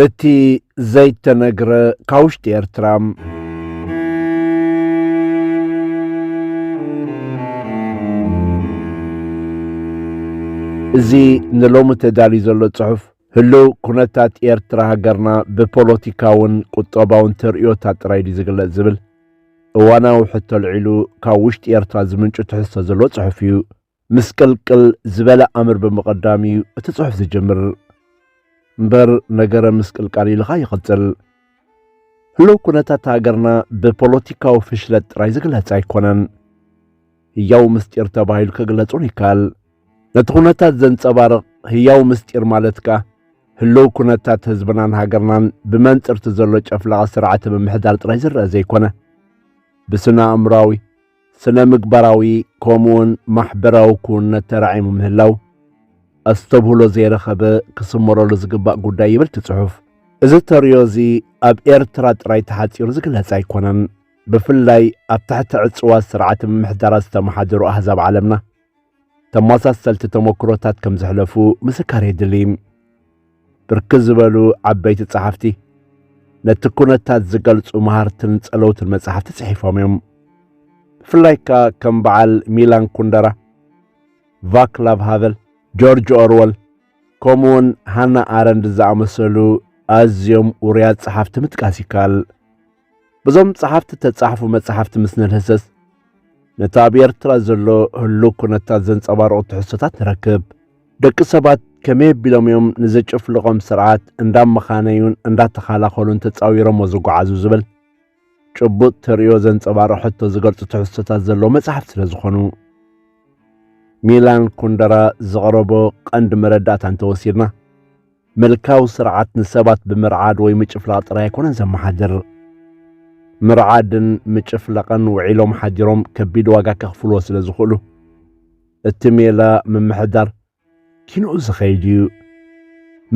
እቲ ዘይተነግረ ካብ ውሽጢ ኤርትራ! እዚ ንሎሚ ተዳልዩ ዘሎ ጽሑፍ ህሉው ኩነታት ኤርትራ ሃገርና ብፖሎቲካውን ቁጠባውን ተርእዮታ ጥራይ ድዩ ዝግለጽ ዝብል እዋናዊ ሕቶ ኣልዒሉ ካብ ውሽጢ ኤርትራ ዝምንጩ ትሕዝቶ ዘለዎ ጽሑፍ እዩ። ምስቅልቅል ዝበለ ኣምር ብምቕዳም እዩ እቲ ጽሑፍ ዝጅምር እምበር ነገረ ምስቅልቃል ኢልኻ ይቕጽል። ህሉው ኩነታት ሃገርና ብፖለቲካዊ ፍሽለት ጥራይ ዝግለጽ ኣይኮነን። ህያው ምስጢር ተባሂሉ ክግለጹን ይከኣል። ነቲ ኩነታት ዘንጸባርቕ ህያው ምስጢር ማለት ከኣ ህልው ኩነታት ህዝብናን ሃገርናን ብመንጽርቲ ዘሎ ጨፍላቒ ስርዓተ ምምሕዳር ጥራይ ዝረኣ ዘይኮነ ብስነ ኣእምሮኣዊ ስነ ምግባራዊ ከምኡውን ማሕበራዊ ክውንነት ተራዒሙ ምህላው ኣስተብህሎ ዘይረኸበ ክስመረሉ ዝግባእ ጉዳይ ይብል እቲ ጽሑፍ። እዚ ተርእዮ እዚ ኣብ ኤርትራ ጥራይ ተሓጺሩ ዝግለጽ ኣይኮነን። ብፍላይ ኣብ ትሕቲ ዕጽዋ ስርዓተ ምምሕዳራት ዝተመሓደሩ ኣህዛብ ዓለምና ተመሳሰልቲ ተሞክሮታት ከም ዘሕለፉ ምስካር የድሊ። ብርክት ዝበሉ ዓበይቲ ጸሓፍቲ ነቲ ኩነታት ዝገልጹ መሃርትን ጸለውትን መጻሕፍቲ ጽሒፎም እዮም። ብፍላይ ከኣ ከም በዓል ሚላን ኩንደራ፣ ቫክላቭ ሃቨል፣ ጆርጅ ኦርወል ከምኡውን ሃና ኣረንድ ዝኣመሰሉ ኣዝዮም ውሩያት ጸሓፍቲ ምጥቃስ ይከኣል። በዞም ጸሓፍቲ እተጻሕፉ መጻሕፍቲ ምስ ንልህሰስ ነቲ ኣብ ኤርትራ ዘሎ ህሉው ኩነታት ዘንጸባርቑ ትሕዝቶታት ንረክብ። ደቂ ሰባት ከመይ ኣቢሎም እዮም ንዘጨፍልቖም ስርዓት እንዳመኻነዩን እንዳተኻላኸሉን ተጻዊሮሞ ዝጓዓዙ ዝብል ጭቡጥ ተርእዮ ዘንጸባርቕ ሕቶ ዝገልጹ ትሕዝቶታት ዘለዎ መጽሓፍ ስለ ዝኾኑ ሚላን ኩንደራ ዘቕረቦ ቀንዲ መረዳእታ እንተወሲድና ምልካዊ ስርዓት ንሰባት ብምርዓድ ወይ ምጭፍላቕ ጥራይ ኣይኮነን ዘመሓድር። ምርዓድን ምጭፍላቕን ውዒሎም ሓዲሮም ከቢድ ዋጋ ከኽፍልዎ ስለ ዝኽእሉ፣ እቲ ሜላ ምምሕዳር ኪንኡ ዝኸይድ እዩ።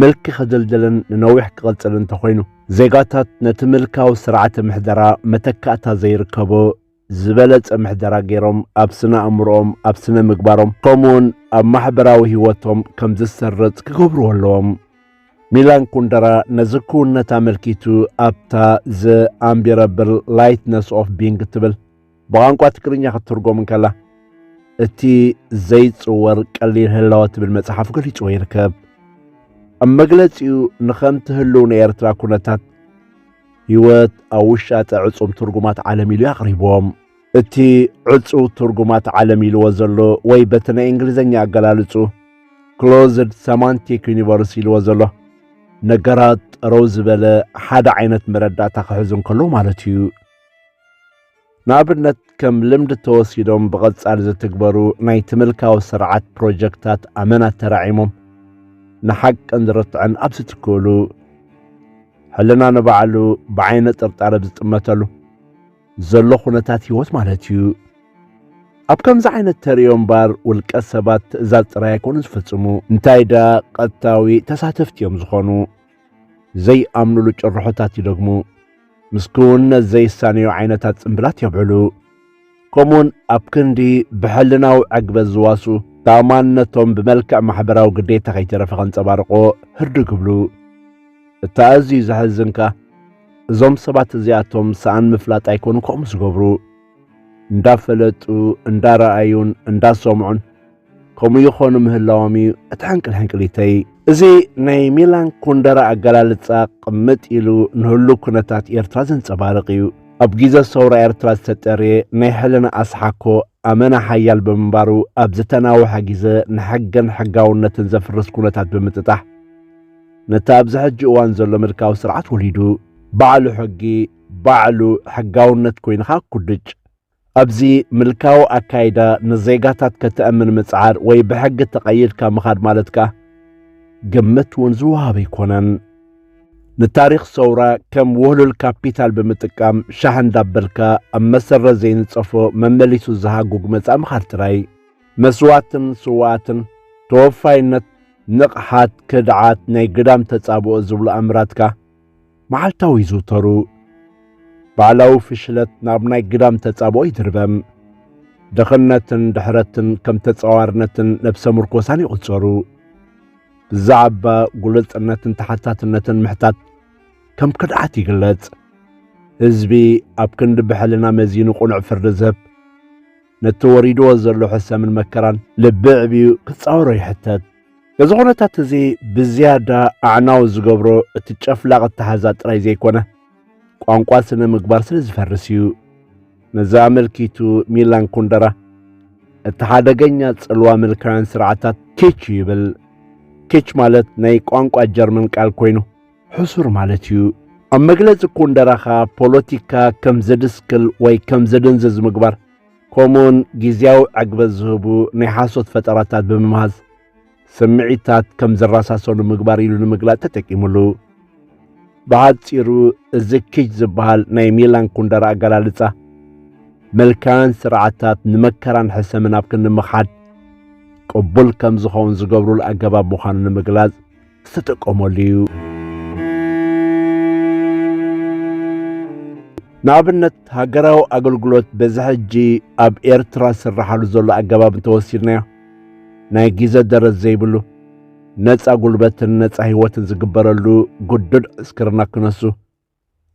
ምልኪ ክድልድልን ንነዊሕ ክቕጽልን እንተኾይኑ፣ ዜጋታት ነቲ ምልካዊ ስርዓተ ምሕደራ መተካእታ ዘይርከቦ፣ ዝበለጸ ምሕደራ ገይሮም ኣብ ስነ ኣእምሮኦም፣ ኣብ ስነ ምግባሮም ከምኡውን ኣብ ማሕበራዊ ህይወቶም ከም ዝሰርጽ ክገብርዎ ኣለዎም። ሚላን ኩንደራ ነዚ ክውንነት ኣመልኪቱ ኣብታ ዘ ኣምቢረብል ላይትነስ ኦፍ ቢንግ እትብል ብቋንቋ ትግርኛ ክትትርጎም እንከላ እቲ ዘይጽወር ቀሊል ህላወ ትብል መጽሓፍ ገሊጽዎ ይርከብ። ኣብ መግለጺኡ ንኸምቲ ህልው ናይ ኤርትራ ኩነታት ሕይወት ኣብ ውሻጠ ዕጹም ትርጉማት ዓለም ኢሉ ኣቕሪቦም። እቲ ዕጹው ትርጉማት ዓለም ኢልዎ ዘሎ ወይ በቲ ናይ እንግሊዝኛ ኣገላልጹ ክሎዝድ ሰማንቲክ ዩኒቨርስ ኢልዎ ዘሎ ነገራት ጠረው ዝበለ ሓደ ዓይነት መረዳእታ ክሕዙ እንከሎ ማለት እዩ። ንኣብነት ከም ልምዲ ተወሲዶም ብቐጻሊ ዝትግበሩ ናይቲ ምልካዊ ስርዓት ፕሮጀክታት ኣመናት ተራዒሞም ንሓቅን ዝርትዕን ኣብ ዝትክእሉ ሕልና ንባዕሉ ብዓይነ ጥርጣረ ዝጥመተሉ ዘሎ ኩነታት ህይወት ማለት እዩ። ኣብ ከምዚ ዓይነት ተርእዮ እምበር ውልቀ ሰባት ትእዛዝ ጥራይ ኣይኮኑ ዝፍጽሙ እንታይ ደኣ ቀጥታዊ ተሳተፍቲ እዮም ዝኾኑ። ዘይኣምኑሉ ጭርሖታት ይደግሙ። ምስ ክውንነት ዘይሳነዩ ዓይነታት ጽምብላት የብዕሉ። ከምኡውን ኣብ ክንዲ ብሕልናዊ ዕግበት ዝዋሱ ተኣማንነቶም ብመልክዕ ማሕበራዊ ግዴታ ከይተረፈ ከንጸባርቆ ህርዱ ግብሉ። እቲ ኣዝዩ ዘሕዝንካ እዞም ሰባት እዚኣቶም ሰኣን ምፍላጥ ኣይኮኑ ከምኡ ዝገብሩ እንዳፈለጡ እንዳረኣዩን እንዳሰምዑን ከምኡ ይኾኑ ምህላዎም እዩ እቲ ሕንቅልሕንቅሊተይ። እዚ ናይ ሚላን ኩንደራ ኣገላልጻ ቅምጥ ኢሉ ንህሉ ኩነታት ኤርትራ ዘንጸባርቕ እዩ። ኣብ ጊዘ ሰውራ ኤርትራ ዝተጠርየ ናይ ሕልና ኣስሓኮ ኣመና ሓያል ብምንባሩ ኣብ ዝተናውሐ ጊዘ ንሕግን ሕጋውነትን ዘፍርስ ኩነታት ብምጥጣሕ ነቲ ኣብዚ ሕጂ እዋን ዘሎ ምልካዊ ስርዓት ወሊዱ። ባዕሉ ሕጊ ባዕሉ ሕጋውነት ኮይንኻ ኩድጭ ኣብዚ ምልካዊ ኣካይዳ ንዜጋታት ከተእምን ምጽዓር ወይ ብሕጊ ተቐይድካ ምኻድ ማለት ከኣ ግምት እውን ዝወሃብ ኣይኮነን። ንታሪኽ ሰውራ ከም ውህሉል ካፒታል ብምጥቃም ሻሕ እንዳበልካ ኣብ መሰረት ዘይንጸፎ መመሊሱ ዝሃጉግ መጻኢ ምኻድ ጥራይ መስዋእትን ስውኣትን ተወፋይነት ንቕሓት ክድዓት ናይ ግዳም ተጻብኦ ዝብሉ ኣምራትካ መዓልታዊ ይዝውተሩ። ባዕላዊ ፍሽለት ናብ ናይ ግዳም ተጻብኦ ይድርበም። ድኽነትን ድሕረትን ከም ተጻዋርነትን ነብሰ ምርኮሳን ይቝጸሩ። ብዛዕባ ግሉጽነትን ተሓታትነትን ምሕታት ከም ክድዓት ይግለጽ። ህዝቢ ኣብ ክንዲ ብሕልና መዚኑ ቕኑዕ ፍርዲ ዝህብ ነቲ ተወሪድዎ ዘሎ ሕሰምን መከራን ልቢ ዕብዩ ክጻወሮ ይሕተት። እዚ ኹነታት እዚ ብዝያዳ ኣዕናዊ ዝገብሮ እቲ ጨፍላቕ ኣተሓዛ ጥራይ ዘይኮነ ቋንቋ ስነ ምግባር ስለ ዝፈርስ እዩ። ነዚ ኣመልኪቱ ሚላን ኩንደራ እቲ ሓደገኛ ጽልዋ ምልካውያን ስርዓታት ኬች ይብል። ኬች ማለት ናይ ቋንቋ ጀርመን ቃል ኮይኑ ሕሱር ማለት እዩ። ኣብ መግለጺ ኩንደራኻ ፖለቲካ ከም ዘድስክል ወይ ከም ዘደንዘዝ ምግባር ከምኡውን ግዝያዊ ዕግበት ዝህቡ ናይ ሓሶት ፈጠራታት ብምምሃዝ ስምዒታት ከም ዝረሳሰኑ ምግባር ኢሉ ንምግላጽ ተጠቂሙሉ። ብሓጺሩ እዚ ኪች ዝበሃል ናይ ሚላን ኩንደራ ኣገላልጻ መልካን ስርዓታት ንመከራን ሕሰምን ኣብ ክንዲ ምኽሓድ ቅቡል ከም ዝኸውን ዝገብሩሉ ኣገባብ ምዃኑ ንምግላጽ ትጥቀመሉ እዩ። ንኣብነት ሃገራዊ ኣገልግሎት በዚ ሕጂ ኣብ ኤርትራ ዝስራሓሉ ዘሎ ኣገባብ እንተወሲድናዮ ናይ ግዘ ደረት ዘይብሉ ነፃ ጉልበትን ነፃ ህይወትን ዝግበረሉ ግዱድ ዕስክርና ክነሱ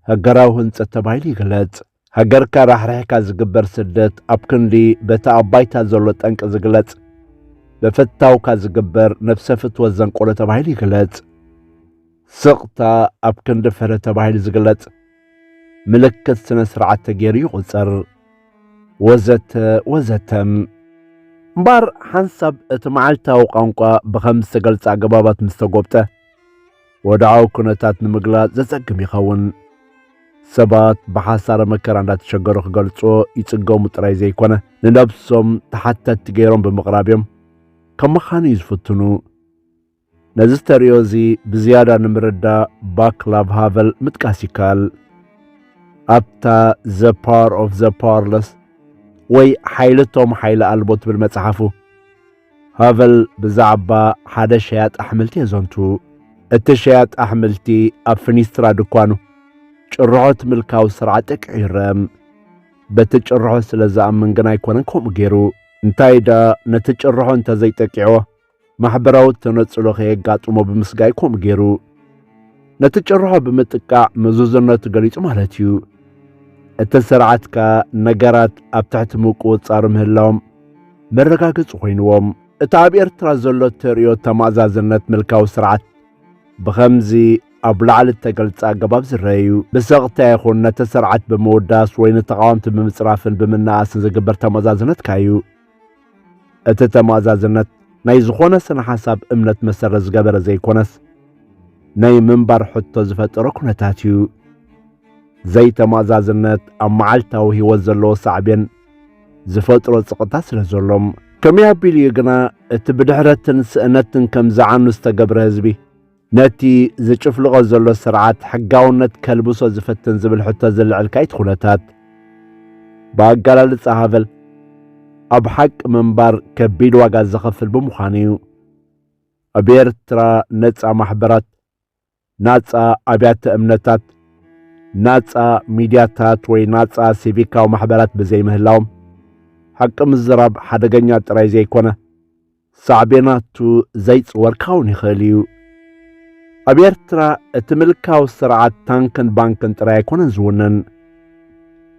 ሃገራዊ ህንጸት ተባሂሉ ይግለጽ። ሃገርካ ራሕሪሕካ ዝግበር ስደት ኣብ ክንዲ በቲ ኣብ ባይታ ዘሎ ጠንቂ ዝግለጽ በፈታውካ ዝግበር ነፍሰ ፍትወት ዘንቆለ ተባሂሉ ይግለጽ። ስቕታ ኣብ ክንዲ ፍረ ተባሂሉ ዝግለጽ ምልክት ስነ ስርዓት ተገይሩ ይቑጸር ወዘተ ወዘተ እምበር ሓንሳብ እቲ መዓልታዊ ቋንቋ ብኸም ዝተገልጸ ኣገባባት ምስ ተጎብጠ ወድዓዊ ኩነታት ንምግላጽ ዘጸግም ይኸውን። ሰባት ብሓሳረ መከራ እንዳተሸገሩ ክገልጽዎ ይጽገሙ ጥራይ ዘይኮነ ንነብሶም ተሓተቲ ገይሮም ብምቕራብ እዮም ከም መኻን እዩ ዝፍትኑ። ነዚ ዝተርእዮ እዚ ብዝያዳ ንምርዳእ ባክላቭ ሃቨል ምጥቃስ ይከኣል። ኣብታ ዘ ፓወር ኦፍ ዘ ፓወርለስ ወይ ሓይሊ እቶም ሓይሊ ኣልቦ ትብል መጽሓፉ ሃቨል ብዛዕባ ሓደ ሸያጥ ኣሕምልቲ የዘንቱ። እቲ ሸያጥ ኣሕምልቲ ኣብ ፍኒስትራ ድኳኑ ጭርሖት ምልካዊ ስርዓት ጠቂዑ ይረአ። በቲ ጭርሖ ስለ ዝኣምን ግን ኣይኮነን ከምኡ ገይሩ። እንታይ ደኣ ነቲ ጭርሖ እንተዘይጠቂዕዎ ማሕበራዊ ተነጽሎ ከየጋጥሞ ብምስጋይ ከምኡ ገይሩ። ነቲ ጭርሖ ብምጥቃዕ ምዙዝነቱ ገሊጹ ማለት እዩ። እቲ ስርዓት ከኣ ነገራት ኣብ ትሕቲ ምቁጽጻር ምህላዎም መረጋገጺ ኮይንዎም። እቲ ኣብ ኤርትራ ዘሎ እተርእዮ ተማእዛዝነት ምልካዊ ስርዓት ብኸምዚ ኣብ ላዕሊ እተገልጸ ኣገባብ ዝረአ እዩ። ብሰቕታ ይኹን ነቲ ስርዓት ብምውዳስ ወይ ንተቓወምቲ ብምጽራፍን ብምናኣስን ዝግበር ተማእዛዝነትካ እዩ። እቲ ተማእዛዝነት ናይ ዝኾነ ስነ ሓሳብ እምነት መሰረት ዝገበረ ዘይኮነስ ናይ ምንባር ሕቶ ዝፈጠረ ኩነታት እዩ። ዘይተማእዛዝነት ኣብ መዓልታዊ ህይወት ዘለዎ ሳዕቤን ዝፈጥሮ ጽቕታ ስለ ዘሎ ከመይ ኣቢሉ እዩ ግና እቲ ብድሕረትን ስእነትን ከም ዝዓኑ ዝተገብረ ህዝቢ ነቲ ዝጭፍልቖ ዘሎ ስርዓት ሕጋውነት ከልብሶ ዝፍትን ዝብል ሕቶ ዝልዕል ካይት ኩነታት ብኣገላልጻ ሃበል ኣብ ሓቂ ምንባር ከቢድ ዋጋ ዘኸፍል ብምዃኑ እዩ። ኣብ ኤርትራ ነጻ ማሕበራት፣ ናጻ ኣብያተ እምነታት፣ ናጻ ሚድያታት ወይ ናጻ ሲቪካዊ ማሕበራት ብዘይምህላዎም ሓቂ ምዝራብ ሓደገኛ ጥራይ ዘይኮነ ሳዕቤናቱ ዘይጽወርካ እውን ይኽእል እዩ። ኣብ ኤርትራ እቲ ምልካዊ ስርዓት ታንክን ባንክን ጥራይ ኣይኮነን ዝውንን።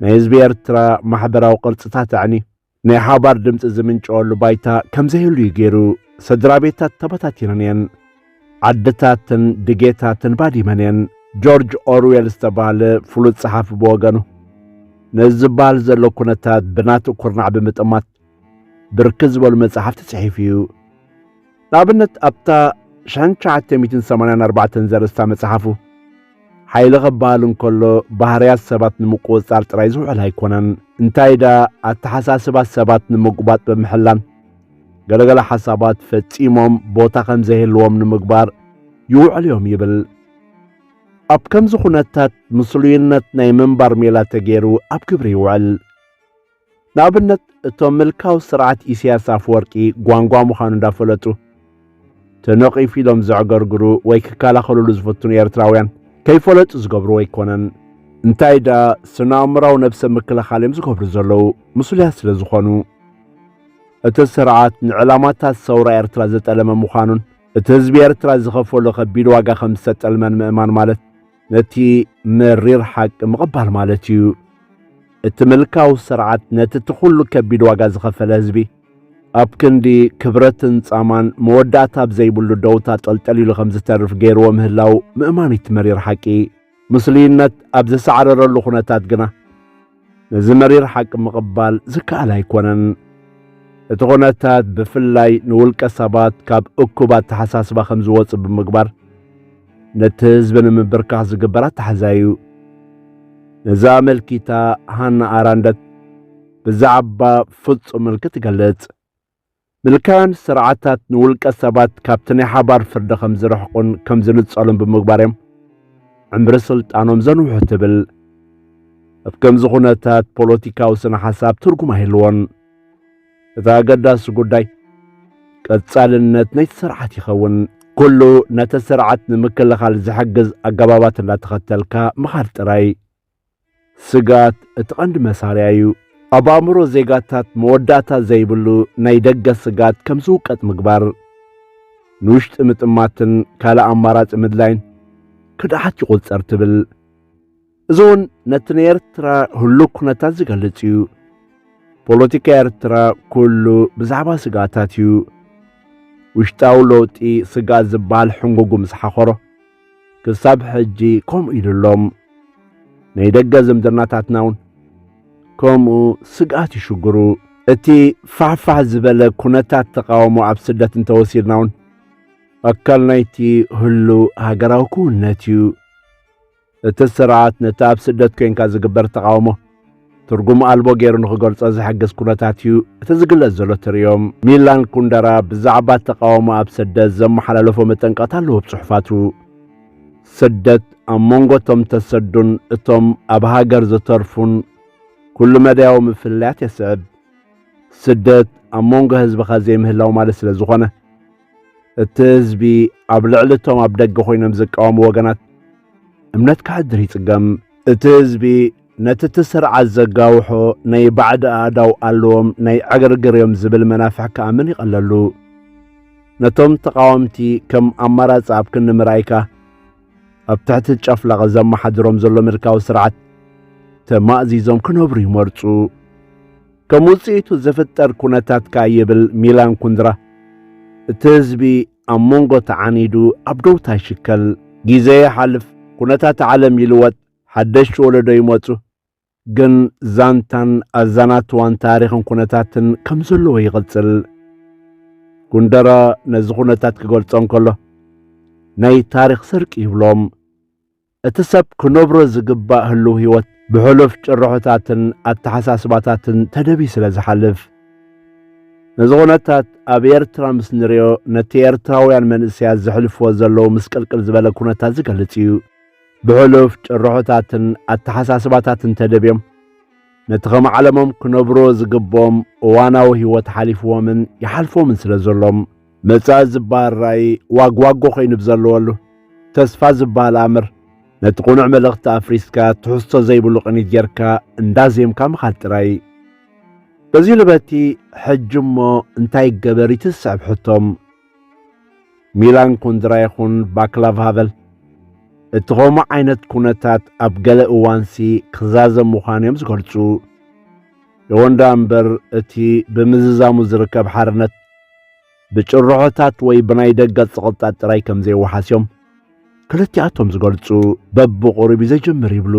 ናይ ህዝቢ ኤርትራ ማሕበራዊ ቅርጽታት ኣዕኒ ናይ ሓባር ድምፂ ዝምንጨወሉ ባይታ ከምዘይህሉ እዩ ገይሩ። ስድራ ቤታት ተበታቲነን እየን። ዓድታትን ድጌታትን ባዲመን እየን። ጆርጅ ኦርዌል ዝተባህለ ፍሉጥ ጸሓፊ ብወገኑ ነዚ ዝበሃል ዘሎ ኩነታት ብናቱ ኩርናዕ ብምጥማት ብርክት ዝበሉ መጻሕፍቲ ጽሒፉ እዩ። ንኣብነት ኣብታ 1984 ዘርእስታ መጽሓፉ ሓይሊ ኸበሃል እንከሎ ባህርያት ሰባት ንምቁጽጻር ጥራይ ዝውዕል ኣይኮነን፣ እንታይ ደኣ ኣተሓሳስባ ሰባት ንምጉባጥ ብምሕላን ገለገለ ሓሳባት ፈጺሞም ቦታ ከም ዘይህልዎም ንምግባር ይውዕል እዮም ይብል። ኣብ ከምዚ ዅነታት ምስሉይነት ናይ ምንባር ሜላ ተገይሩ ኣብ ግብሪ ይውዕል። ንኣብነት እቶም ምልካዊ ስርዓት ኢሳያስ ኣፈወርቂ ጓንጓ ምዃኑ እንዳፈለጡ ተነቒፉ ኢሎም ዘዕገርግሩ ወይ ክከላኸልሉ ዝፍትኑ ኤርትራውያን ከይፈለጡ ዝገብርዎ ኣይኮነን። እንታይ ደኣ ስነ-ኣእምራዊ ነብሰ ምክልኻል እዮም ዝገብሩ ዘለዉ ምስሉያት ስለ ዝኾኑ። እቲ ስርዓት ንዕላማታት ሰውራ ኤርትራ ዘጠለመ ምዃኑን እቲ ህዝቢ ኤርትራ ዝኸፈሎ ከቢድ ዋጋ ከም ዝተጠልመን ምእማን ማለት ነቲ መሪር ሓቂ ምቕባል ማለት እዩ። እቲ ምልካዊ ስርዓት ነቲ እቲ ዅሉ ከቢድ ዋጋ ዝኸፈለ ህዝቢ ኣብ ክንዲ ክብረትን ጻማን መወዳእታ ኣብ ዘይብሉ ደውታ ጠልጠል ኢሉ ከም ዝተርፍ ገይርዎ ምህላው ምእማን እቲ መሪር ሓቂ ምስሉይነት ኣብ ዘሳዕረረሉ ዅነታት ግና ነዚ መሪር ሓቂ ምቕባል ዝከኣል ኣይኮነን። እቲ ኩነታት ብፍላይ ንውልቀ ሰባት ካብ እኩብ ኣተሓሳስባ ከም ዝወጽእ ብምግባር ነቲ ህዝቢ ንምብርካኽ ዝግበር ኣተሓዛ እዩ። ነዚ ኣመልኪታ ሃና ኣራንደት ብዛዕባ ፍጹም ምልኪ ትገልጽ። ምልካውያን ስርዓታት ንውልቀ ሰባት ካብቲ ናይ ሓባር ፍርዲ ከም ዝርሕቁን ከም ዝንጸሉን ብምግባር እዮም ዕምሪ ስልጣኖም ዘንውሑ ትብል። ኣብ ከምዚ ኩነታት ፖለቲካዊ ስነ ሓሳብ ትርጉም ኣይህልዎን። እቲ ኣገዳሲ ጉዳይ ቀጻልነት ናይቲ ስርዓት ይኸውን። ኩሉ ነቲ ስርዓት ንምክልኻል ዝሕግዝ ኣገባባት እንዳተኸተልካ ምኻድ ጥራይ ስግኣት እቲ ቀንዲ መሳርያ እዩ። ኣብ ኣእምሮ ዜጋታት መወዳእታ ዘይብሉ ናይ ደገ ስግኣት ከም ዝውቀጥ ምግባር፣ ንውሽጢ ምጥማትን ካልእ ኣማራጺ ምድላይን ክድዓት ይቑጸር ትብል። እዚ እውን ነቲ ንኤርትራ ህሉው ኩነታት ዝገልጽ እዩ። ፖለቲካ ኤርትራ ኩሉ ብዛዕባ ስግኣታት እዩ። ውሽጣዊ ለውጢ ስግኣት ዝበሃል ሕንጉጉ ምስ ሓኾሮ፣ ክሳብ ሕጂ ከምኡ ኢሉ ኣሎ። ናይ ደገ ዝምድናታትና እውን ከምኡ ስግኣት ይሽግሩ። እቲ ፋሕፋሕ ዝበለ ኩነታት ተቓውሞ ኣብ ስደት እንተወሲድና እውን ኣካል ናይቲ ህሉው ሃገራዊ ክውንነት እዩ። እቲ ስርዓት ነቲ ኣብ ስደት ኮይንካ ዝግበር ተቓውሞ ትርጉም ኣልቦ ገይሩ ንኽገልጾ ዝሕግዝ ኩነታት እዩ እቲ ዝግለጽ ዘሎ ትርዮ። ሚላን ኩንደራ ብዛዕባ ተቓውሞ ኣብ ስደት ዘመሓላለፎ መጠንቀቕታ ኣለዎ ኣብ ጽሑፋቱ። ስደት ኣብ መንጎ እቶም ተሰዱን እቶም ኣብ ሃገር ዝተርፉን ኩሉ መዳያዊ ምፍልላያት የስዕብ። ስደት ኣብ መንጎ ህዝብኻ ዘይምህላው ማለት ስለ ዝኾነ እቲ ህዝቢ ኣብ ልዕሊ እቶም ኣብ ደገ ኮይኖም ዝቃወሙ ወገናት እምነት ክሓድር ይጽገም። እቲ ህዝቢ ነቲ እቲ ስርዓት ዘጋውሖ ናይ ባዕዲ ኣእዳው ኣለዎም ናይ ዕግርግር እዮም ዝብል መናፍሕ ክኣምን ይቐለሉ። ነቶም ተቓወምቲ ከም ኣማራጺ ኣብ ክንዲ ምርኣይካ ኣብ ትሕቲ ጨፍላቕ ዘመሓድሮም ዘሎ ምልካዊ ስርዓት ተማእዚዞም ክነብሩ ይመርጹ። ከም ውጽኢቱ ዝፍጠር ኩነታት ከኣ ይብል ሚላን ኩንድራ እቲ ህዝቢ ኣብ መንጎ ተዓኒዱ ኣብ ደውታ ይሽከል። ግዜ ይሓልፍ፣ ኩነታት ዓለም ይልወጥ፣ ሓደሽቲ ወለዶ ይመጹ፣ ግን ዛንታን ኣዛናትዋን ታሪኽን ኩነታትን ከም ዘለዎ ይቕጽል። ኩንደራ ነዚ ኩነታት ክገልጾ እንከሎ ናይ ታሪኽ ስርቂ ይብሎም። እቲ ሰብ ክነብሮ ዝግባእ ህሉው ህይወት ብሕሉፍ ጭርሖታትን ኣተሓሳስባታትን ተደብዩ ስለ ዝሓልፍ። ነዚ ኩነታት ኣብ ኤርትራ ምስ ንሪኦ ነቲ ኤርትራውያን መንእሰያት ዘሕልፍዎ ዘለዉ ምስቅልቅል ዝበለ ኩነታት ዝገልጽ እዩ። ብሕሉፍ ጭርሖታትን ኣተሓሳስባታትን ተደብዮም ነቲ ከም ዓለሞም ክነብርዎ ዝግብኦም እዋናዊ ህይወት ሓሊፍዎምን ይሓልፍዎምን ስለ ዘሎም መጻኢ ዝበሃል ራእይ ዋግዋጎ ኮይኑ ብዘለወሉ፣ ተስፋ ዝበሃል ኣምር ነቲ ቅኑዕ መልእኽቲ ኣፍሪስካ ትሕዝቶ ዘይብሉ ቅኒት ጌርካ እንዳዜምካ ምኻድ ጥራይ እዩ። በዚ ልበቲ ሕጂ እሞ እንታይ ይገበር እቲ ዝስዕብ ሕቶም ሚላን ኩንድራ ይኹን ባክላቭ ሃቨል እቲ ከምኡ ዓይነት ኩነታት ኣብ ገለ እዋንሲ ክዛዘም ምዃኑ እዮም ዝገልጹ። እወ ደኣ እምበር እቲ ብምዝዛሙ ዝርከብ ሓርነት ብጭርሖታት ወይ ብናይ ደገ ጽቕጣት ጥራይ ከም ዘይወሓስ እዮም ክልቲኣቶም ዝገልጹ። በብቑሩብ እዩ ዘጀምር ይብሉ።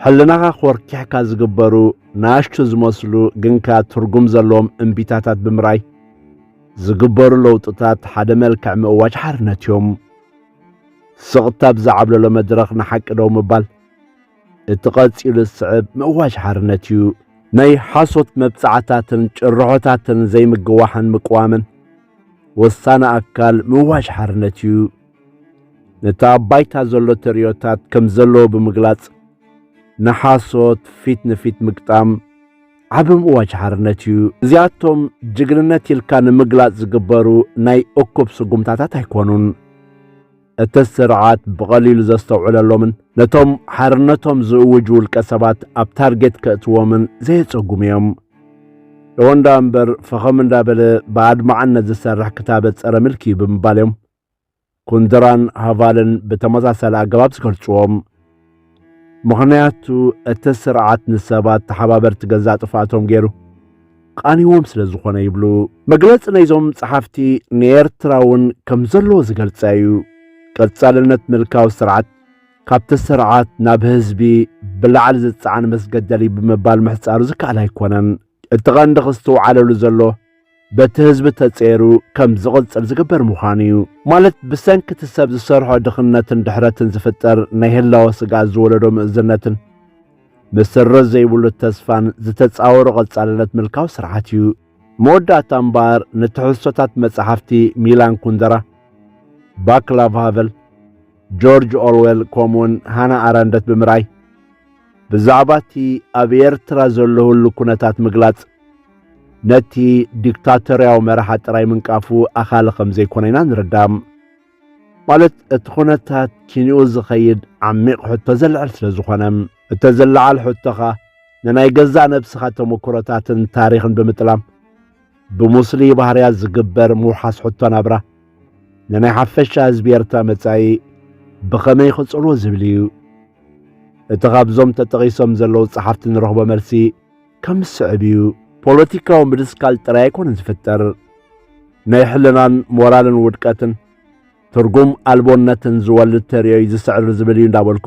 ሕልናኻ ኮርኪሕካ ዝግበሩ ንኣሽቱ ዝመስሉ ግን ከኣ ትርጉም ዘለዎም እምቢታታት ብምርኣይ ዝግበሩ ለውጥታት ሓደ መልክዕ ምእዋጅ ሓርነት እዮም። ስቕታ ብዝዓብለሎ መድረኽ ንሓቂ ደው ምባል እቲ ቀጺሉ ዝስዕብ ምእዋጅ ሓርነት እዩ። ናይ ሓሶት መብጽዓታትን ጭርሖታትን ዘይምግዋሕን ምቅዋምን ወሳኒ ኣካል ምእዋጅ ሓርነት እዩ። ነቲ ኣብ ባይታ ዘሎ ተርእዮታት ከም ዘለዎ ብምግላጽ ንሓሶት ፊት ንፊት ምግጣም ዓቢ ምእዋጅ ሓርነት እዩ። እዚኣቶም ጅግንነት ኢልካ ንምግላጽ ዝግበሩ ናይ እኩብ ስጉምታታት ኣይኮኑን። እቲ ስርዓት ብቐሊሉ ዘስተውዕለሎምን ነቶም ሓርነቶም ዝእውጁ ውልቀ ሰባት ኣብ ታርጌት ከእትዎምን ዘየጸጉሙ እዮም። እወንዳ እምበር ፈኸም እንዳበለ ብኣድማዕነት ዝሰርሕ ክታበት ጸረ ምልኪ እዩ ብምባል እዮም ኩንድራን ሃቫልን ብተመሳሳሊ ኣገባብ ዝገልጽዎም። ምኽንያቱ እቲ ስርዓት ንሰባት ተሓባበርቲ ገዛእ ጥፍኣቶም ገይሩ ቃኒዎም ስለ ዝኾነ ይብሉ። መግለጺ ናይዞም ጸሓፍቲ ንኤርትራ እውን ከም ዘለዎ ዝገልጸ እዩ። ቀጻልነት ምልካዊ ስርዓት ካብቲ ስርዓት ናብ ህዝቢ ብላዕሊ ዝጸዓን መስገደል እዩ ብምባል ምሕጻሩ ዝከኣል ኣይኮነን። እቲ ቐንዲ ክስትውዓለሉ ዘሎ በቲ ህዝቢ ተጸይሩ ከም ዝቕጽል ዝግበር ምዃኑ እዩ። ማለት ብሰንኪ እቲ ሰብ ዝሰርሖ ድኽነትን ድሕረትን ዝፍጠር ናይ ህላወ ስግኣት ዝወለዶ ምእዝነትን መሰረት ዘይብሉ ተስፋን ዝተጻወሮ ቐጻልነት ምልካዊ ስርዓት እዩ። መወዳእታ እምበኣር ንትሕዝቶታት መጻሕፍቲ ሚላን ኩንደራ፣ ቫክላቭ ሃቨል፣ ጆርጅ ኦርዌል ከምኡውን ሃና ኣረንደት ብምርኣይ ብዛዕባ እቲ ኣብ ኤርትራ ዘሎ ህሉ ኩነታት ምግላጽ ነቲ ዲክታቶርያዊ መራሓ ጥራይ ምንቃፉ ኣኻሊ ከም ዘይኮነ ኢና ንርዳእ። ማለት እቲ ኩነታት ኪንኡ ዝኸይድ ዓሚቕ ሕቶ ዘልዕል ስለ ዝኾነ እተ ዝለዓል ሕቶኻ ንናይ ገዛእ ነብስኻ ተመኩሮታትን ታሪኽን ብምጥላም ብሙስሊ ባህርያት ዝግበር ምውሓስ ሕቶ ናብራ ንናይ ሓፈሻ ህዝቢ ኤርትራ መጻኢ ብኸመይ ክጽልዎ ዝብል እዩ። እቲ ካብዞም ተጠቒሶም ዘለዉ ጸሓፍቲ ንረኽቦ መልሲ ከም ዝስዕብ እዩ። ፖለቲካዊ ምድስካል ጥራይ ኣይኮነን ዝፍጠር፣ ናይ ሕልናን ሞራልን ውድቀትን ትርጉም ኣልቦነትን ዝወልድ ተርእዮ እዩ ዝስዕር ዝብል እዩ እንዳበልኩ